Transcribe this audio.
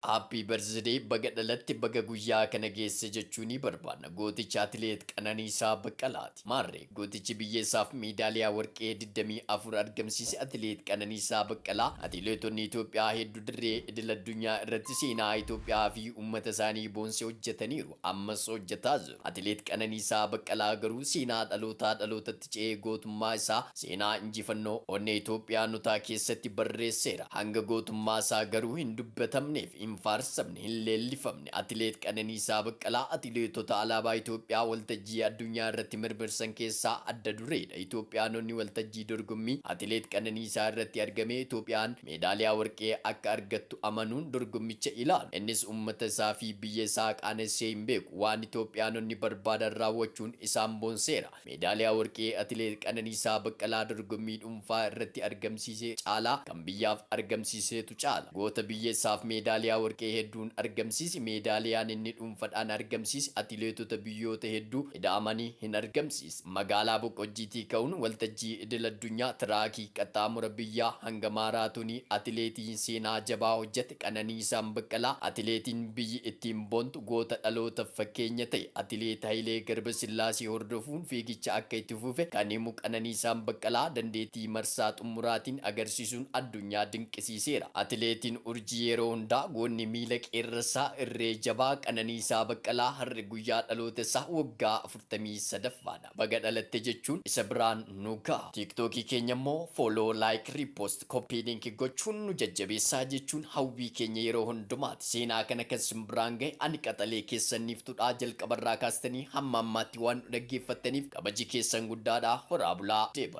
Happy birthday baga dhalatte baga guyyaa kana geesse jechuu ni barbaanna gooticha atileet Qananiisaa Baqqalaati. Maarree gootichi biyya isaaf meedaaliyaa warqee 24 argamsiise atileet Qananiisaa Baqqalaa atileetonni Itoophiyaa heddu dirree idil addunyaa irratti seenaa Itoophiyaa fi uummata isaanii boonse hojjetaniiru ammas hojjetaa jiru atileet Qananiisaa Baqqalaa garuu seenaa dhalootaa dhalootatti Itoophiyaatti ce'ee gootummaa isaa seenaa injifannoo onnee Itoophiyaanotaa keessatti barreesseera. Hanga gootummaa isaa garuu hin dubbatamneef, hin faarsamne, hin leellifamne Atileet Qananiisaa Baqqalaa atileetota alaabaa Itoophiyaa waltajjii addunyaa irratti mirmirsan keessaa adda dureedha. Itoophiyaanonni waltajjii dorgommii Atileet Qananiisaa irratti argamee Itoophiyaan meedaaliyaa warqee akka argattu amanuun dorgommicha ilaalu. Innis uummata isaa fi biyya isaa qaanessee hin beeku. Waan Itoophiyaanonni barbaadan raawwachuun isaan boonseera. Meedaaliyaa Warqee Atileet Qananiisaa Baqqalaa dorgommii dhuunfaa irratti argamsiise caalaa kan biyyaaf argamsiiseetu caala. Goota biyya isaaf meedaaliyaa warqee hedduun argamsiise meedaaliyaan inni dhuunfadhaan argamsiise atileetota biyyoota hedduu ida'amanii hin argamsiisne. Magaalaa Boqqojjiitii ka'uun waltajjii idil addunyaa tiraakii qaxxaamura biyyaa hanga maaraatoonii atileetiin seenaa jabaa hojjate Qananiisaan Baqqalaa atileetiin biyyi ittiin boontu, Goota dhalootaf fakkeenya ta'e Atileet Hayilee Garbasillaasee hordofuun fiigicha akka itti fufe kan himu Qananiisaan Baqqalaa, dandeetii marsaa xummuraatiin agarsiisuun addunyaa dinqisiiseera. Atileetiin urjii yeroo hundaa goonni miila qeerransaa irree jabaa Qananiisaa Baqqalaa har'a guyyaa dhaloota isaa waggaa 43ffaadha. Baga dhalatte jechuun isa biraan nu gaha. Tiktookii keenya immoo Follow, Like, Repost, Copy Link gochuun nu jajjabeessaa jechuun hawwii keenya yeroo hundumaati. Seenaa kana kan sin biraan gahe ani qaxalee keessan Niiftuudha. Jalqabarraa kaastanii hamma ammaatti waan nu dhaggeeffattaniif kabaji keessan guddaadha. Horaa bulaa! Deb.